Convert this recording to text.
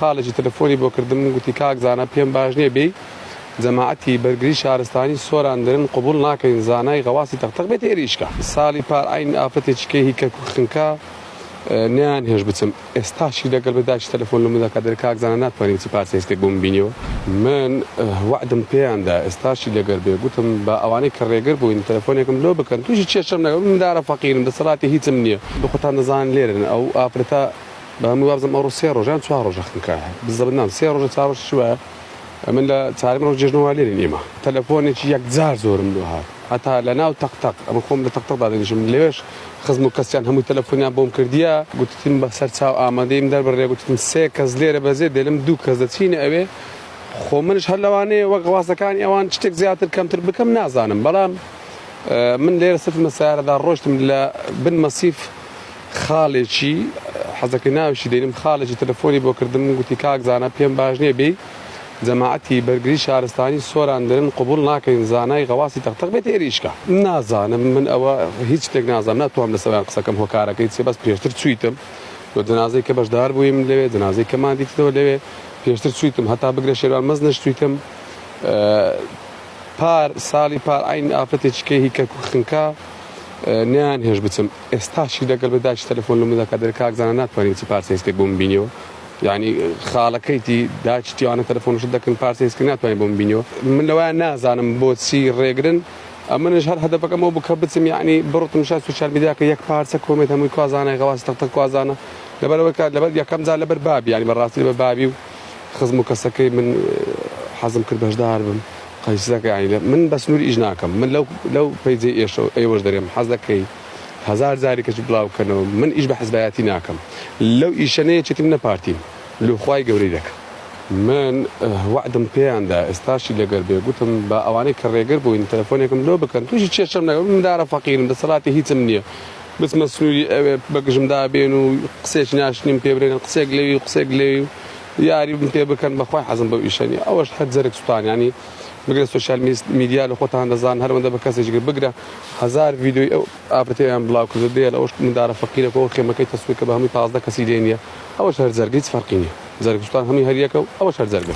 خاڵێکی تەلەفۆنی بۆ کردم گوتی کاک زانا پێم باش نیە بێی جەماعەتی بەرگری شارستانی سۆران درن قبوڵ ناکەین زانای غەواسی تەق تەق بێت هێریشکە ساڵی پار عەین ئافرەتێکی کێ هی کەرکوک خنکا نەیان هێشت بچم ئێستاشی دەگەڵ بە داکی تەلەفۆن لە مدەکا دەر کاک زانا ناتوانی بچی پارچە هێستێک بۆ من بینیەوە من وەعدم پێیان دا ئێستاشی لەگەر بێ گوتم با ئەوانەی کە ڕێگر بووین تەلەفۆنێکم لۆ بکەن تووشی کێشەم نەگە من دارە فەقیرم دەسەڵاتی هیچم نیە بخۆتان دەزان لێرن ئەو ئافرەتە با من وابزانم ئەوڕۆ سێ ڕۆژە یان چوار ڕۆژە خنکا بزەبت نام سێ ڕۆژە چوار ڕۆژ چووە من لە چارم ڕۆژ جێژنە وا لێرین ئێمە تەلەفۆنێکی یەکجار زۆرم لۆ هات هەتا لە ناو تەق تەق ئەمە خۆم لە تەق تەق دادەنیشم لەوێش خزم و کەسیان هەموو تەلەفۆنیان بۆم کردیە گوتتم بە سەر چاو ئامادەیم دەربڕێ گوتتم سێ کەس لێرە بەزێ دێلم دوو کەس دەچینە ئەوێ خۆ منش هەر لەوانەیە وەک ڕاستەکانی ئەوان شتێک زیاتر کەمتر بکەم نازانم بەڵام من لێرە سفمە سارەدا ڕۆشتم لە بن مەسیف خاڵێکی، حەزەکەی ناویشی دەینم، خاڵێکی تەلەفۆنی بۆ کردم و گوتی کاک زانا پێم باش نیە بێی جەماعەتی بەرگری شارستانی سۆران دەرن قبوڵ ناکەین زانای غەواسی تەق تەق بێت هێریشکە. نازانم من ئەوە هیچ شتێک نازانم ناتوانم لەسەر ئەویان قسەکەم هۆکارەکەی چیە بەس پێشتر چویتم و جەنازەی کە بەشدار بویم لەوێ جەنازەی کەمان دیتەوە لەوێ پێشتر چویتم هەتا بگرە شێروان مەزنش چویتم پار ساڵی پار عەین ئافرەتێکی کەی هی کەرکوک خنکا نەیان هێشت بچم ئێستاشی لەگەڵ بە دایکی تەلەفۆن لە من دەکات دەلێ کاک زانا ناتوانی بچی پارچە هیسکێک بۆ من بینیەوە یانی خاڵەکەیتی دایکی تیوانە تەلەفۆنشت دەکەن پارچە هیسکێک ناتوانی بۆ من بینیەوە من لەوان نازانم بۆچی ڕێگرن ئەمنش هەر هەدەپەکەم ئەو بوو کە بچم یانی بڕتم شای سوسیال میدیا کە یەک پارچە کۆمێنت هەمووی کوازانای غەواسی تەق تەق کوازانە لەبەرەوەی کە لەبەر یەکەم جار لەبەر بابی یانی بەڕاستی لەبەر بابی و خزم و کەسەکەی من حەزم کرد بەشدار بم قەیسەکە ئاینە من بە سنوور ئیش ناکەم من لەو لەو پەیجێ ئێشە ئێوەش دەرێم حەز دەکەی هزار جاری کەچ بڵاوکەنەوە من ئیش بە حزبایەتی ناکەم لەو ئیشەنەیە چێتی منە پارتیم لوخوای گەورەی دەکەم من وعدم پێیاندا ئێستاشی لەگەر بێ گوتم بە ئەوانەی کە ڕێگر بووین تەلەفۆنێکم لۆ بکەن تووشی چێشم نەگەم مندارە فەقیرم دەسەڵاتی هیچم نییە بچمە سنوری ئەوێ بەگژم دابێن و قسێکی ناشرین پێ برێن قسێک لەوی و قسێک لەوی و یاریبم پێ بکەن بەخوای حەزم بەو ئیشە نیە ئەوەش هەر جەرگ سوتانیانی بگرە سۆشیال میدیا لە خۆتان دەزان هەرەوەندە بە کەسێکی کرد بگرە هەزار ڤیدیۆی ئەو ئافرەتەیان بڵاو کردو دێ لە ئەوش مندارە فەقیرە کۆ خێمەکەی تەسویر کە بە هەمووی پازدە کەسی لێ نیە ئەوەش هەر جەرگە هیچ فەرقی نیە جەرگ سوتان هەمووی هەر یەکە و ئەوەش هەر جەرگە.